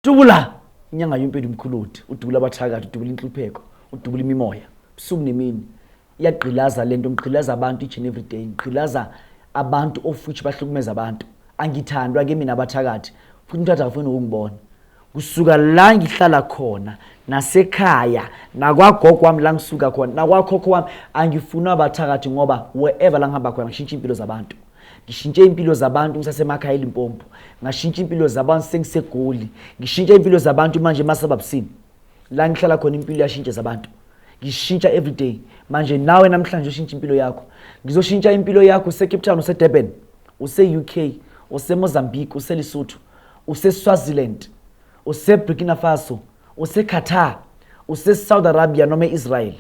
Dubula inyanga yompedu mkhuluthi, udubula abathakathi, udubula inhlupheko, udubula imimoya, busuku nemini. iyagqilaza lento ngigqilaza abantu each and every day ngigqilaza abantu of which bahlukumeza abantu angithandwa ke mina abathakathi futhi umthatha akafuni ukungibona kusuka la ngihlala khona nasekhaya nakwagogo wami la ngisuka khona nakwakhokho wami angifuni abathakathi ngoba wherever la ngihamba khona ngishintsha impilo zabantu ngishintshe impilo zabantu ngisasemakhaya elimpompo ngashintsha impilo zabantu sengisegoli ngishintshe impilo zabantu manje emasababusini la ngihlala khona impilo iyashintsha zabantu ngishintsha everyday manje nawe namhlanje ushintsha impilo yakho ngizoshintsha impilo yakho usecape town usedurban use-u k usemozambique uselesotho useswaziland useburkina faso useqatar usesouth arabia noma e-israel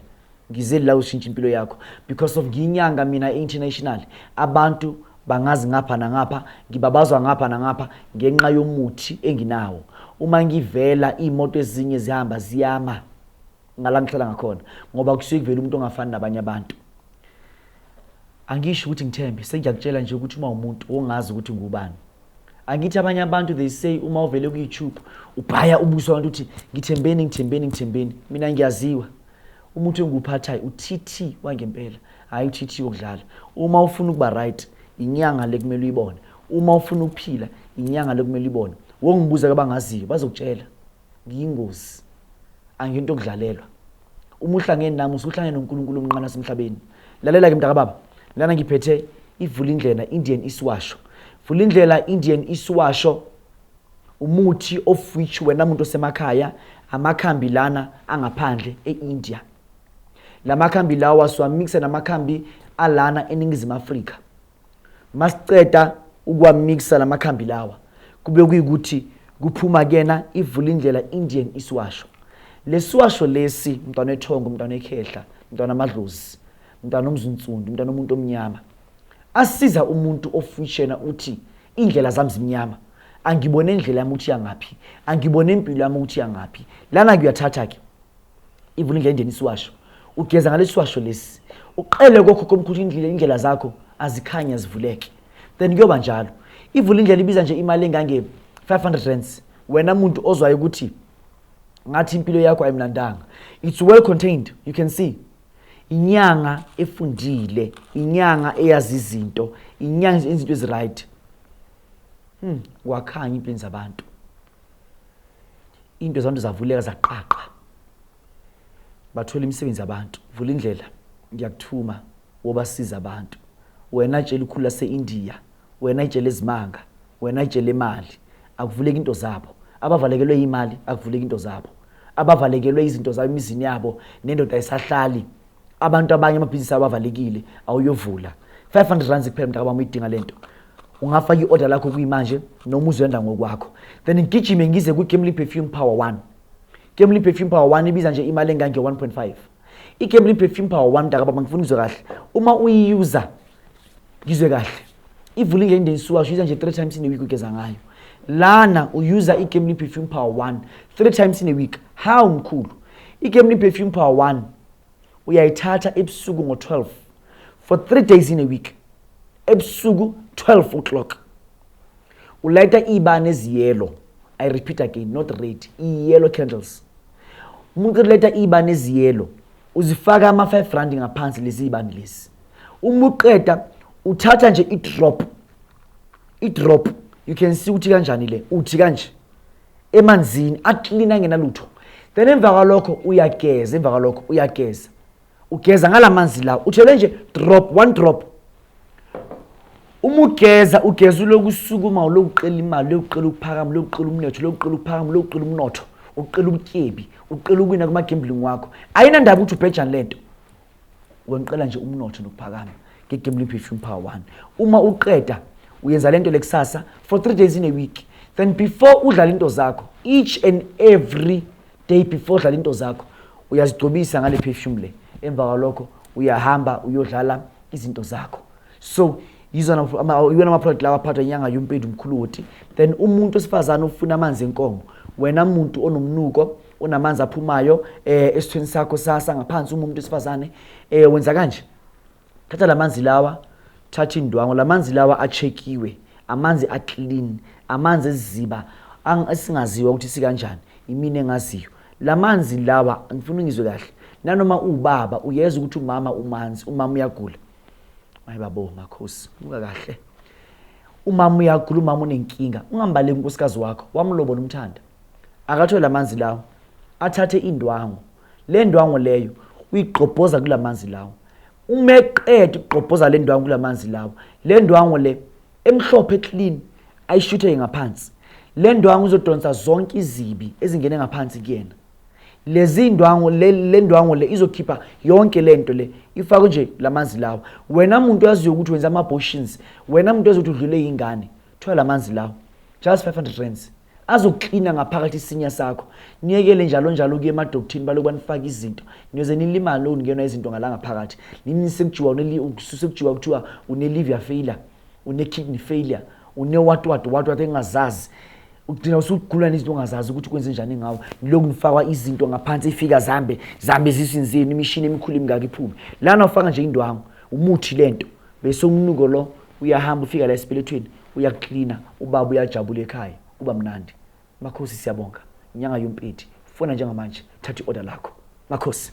ngize la ushintsha impilo yakho because of ngiyinyanga mina international abantu bangazi ngapha nangapha ngibabazwa ngapha nangapha ngenxa yomuthi enginawo uma ngivela iy'moto ezinye zihamba ziyama ngala ngihlala ngakhona ngoba kusuke kuvela umuntu ongafani nabanye abantu angisho ukuthi ngithembe sengiyakutshela nje ukuthi uma umuntu wongazi ukuthi ngubani angithi abanye abantu they say uma uvele kuyoutube ubhaya ubuso abantu uthi ngithembeni ngithembeni ngithembeni mina ngiyaziwa umuntu engikuphathayo utt wangempela hhayi utt wokudlala uma ufuna ukuba right inyanga le kumele uyibone uma ufuna ukuphila inyanga le kumele uyibone wongibuza kabangaziyo bazokutshela ngiyingozi. Angiyinto yokudlalelwa. Uma uhlangene nami usuhlangene noNkulunkulu omnqane wasemhlabeni. Lalela-ke mntakababa, lana ngiphethe ivulindlela Indian isiwasho. Vulindlela Indian isiwasho umuthi of which wena muntu osemakhaya amakhambi lana angaphandle e-India. La makhambi lawa siwamikisa namakhambi alana eNingizimu Afrika. Masiceda ukuwamikisa lamakhambi lawa kube kuyikuthi kuphuma kuyena ivula indlela Indian isiwasho. Lesiwasho lesi mntwana ethongo, mntwana ekhehla, mntwana amadlozi, mntwana omzunsundu, mntwana omuntu omnyama. Asiza umuntu ofishena uthi indlela zami zimnyama. Angibone indlela yami ukuthi yangaphi. Angibone impilo yami ukuthi yangaphi. Lana kuyathatha ke. ivula indlela endeni isiwasho ugeza ngalesi siwasho lesi uqele kokhokho omkhulu indlela indlela zakho azikhanye azivuleke then kuyoba njalo ivula indlela ibiza nje imali engange 500 rands wena muntu ozwayo ukuthi ngathi impilo yakho ayimnandanga it's well contained you can see inyanga efundile inyanga eyazi izinto inyanga izinto eziright hmm wakhanya impini zabantu into zabantu zavuleka zaqaqa bathola imisebenzi yabantu vula indlela ngiyakuthuma wobasiza abantu wena tshela ukhulu lase-indiya wena itshela ezimanga wena itshela imali akuvuleki into zabo abavalekelwe imali akuvuleki into zabo abavalekelwe izinto zabo emizini yabo nendoda ayisahlali abantu abanye amabhizinisi abo avalekile awuyovula 500 rands kuphela mntakabami uyidinga le nto ungafaka i-order lakho kuyimanje noma uzenda ngokwakho then ngigijime ngize kwi-gamely perfume power 1 gamely perfume power 1 ibiza nje imali engange-1.5 i-gamely perfume power 1 mntakababa ngifuna uzwe kahle uma uyiyuza ngizwe kahle ivule nje indensuka usho nje three times in a week ugeza ngayo lana uyuza i-gamely perfume power 1 three times in a week how mkhulu i-gamely perfume power 1 uyayithatha ebusuku ngo-12 for three days in a week ebusuku 12 o'clock ulayita iy'bani eziyelo i repeat again not red iyelo candles umuntu ulayita iy'bani eziyelo uzifaka ama-five rand ngaphansi lezi y'bani lezi uma uqeda uthatha nje i-drop i-drop you can see ukuthi kanjani le uthi kanje emanzini aklina angenalutho then emva kwalokho uyageza emva kwalokho uyageza ugeza ngala manzi lawo uthele nje drop one drop uma ugeza ugeza ulokusukuma ulokuqela imali ulokuqela ukuphakama ulokuqela umnetho ulokuqela ukuphakama ulokuqela umnotho uqela ubutyebi uqela ukwina kuma-gambling wakho ayinandaba ukuthi ubhejani le nto Ngoba ngiqela nje umnotho nokuphakama nge-gambling perfume power one uma uqeda uyenza le nto le kusasa for three days in a week then before udlala into zakho each and every day before udlala into zakho uyazigcobisa ngale perfume le emva kwalokho uyahamba uyodlala izinto zakho so iwona amaproduct lawa aphathwa inyanga yompedu mkhuloti then umuntu osifazane ofuna amanzi enkomo wena muntu onomnuko unamanzi aphumayo eh esithweni sakho sasa ngaphansi uma umuntu esifazane eh wenza kanje thatha lamanzi lawa thatha indwango lamanzi lawa achekiwe amanzi aclean amanzi eziziba esingaziwa ukuthi sikanjani imini engaziyo lamanzi lawa ngifuna ungizwe kahle nanoma ubaba uyeza ukuthi umama umanzi umama uyagula mayibabo makhosi buka kahle umama uyagula umama unenkinga ungambaleki unkosikazi wakho wamlobola umthanda akathole amanzi lawo athathe indwangu le ndwangu leyo uyigqobhoza kula manzi lawo uma eqeda ukugqobhoza le ndwangu kula manzi lawo le ndwangu le emhlophe clean ayishuthe ngaphansi le ndwangu izodonsa zonke izibi ezingene ngaphansi kuyena lezi ndwangu le ndwangu le izokhipha yonke le nto le ifakwe nje la manzi lawo wena muntu oyaziyo ukuthi wenza ama-abortions wena muntu oyaziyo ukuthi udlule yingane thola la manzi lawo just 500 rands azoklina ngaphakathi isinya sakho niyekele njalo njalo kuye emadokthini baloku banifaka izinto niyoze nilimale ukungenwa izinto ngala ngaphakathi nini sekujiwa sekujiwa kuthiwa une-liver failure une-kidney failure une-watwat watwat engazazi ugcina usugula nezinto ongazazi ukuthi kwenze njani ngawo yiloku nifakwa izinto ngaphansi ifika zambe zambe ezisini zenu imishini emikhulu emingaka iphume lana ufaka nje indwangu umuthi le nto bese umnuko lo Uyahamba ufika la esibelethweni uyakuklina ubaba uyajabula ekhaya kuba mnandi. Makhosi siyabonga. Nyanga yompeti. Fona njengamanje thatha i-order lakho. Makhosi.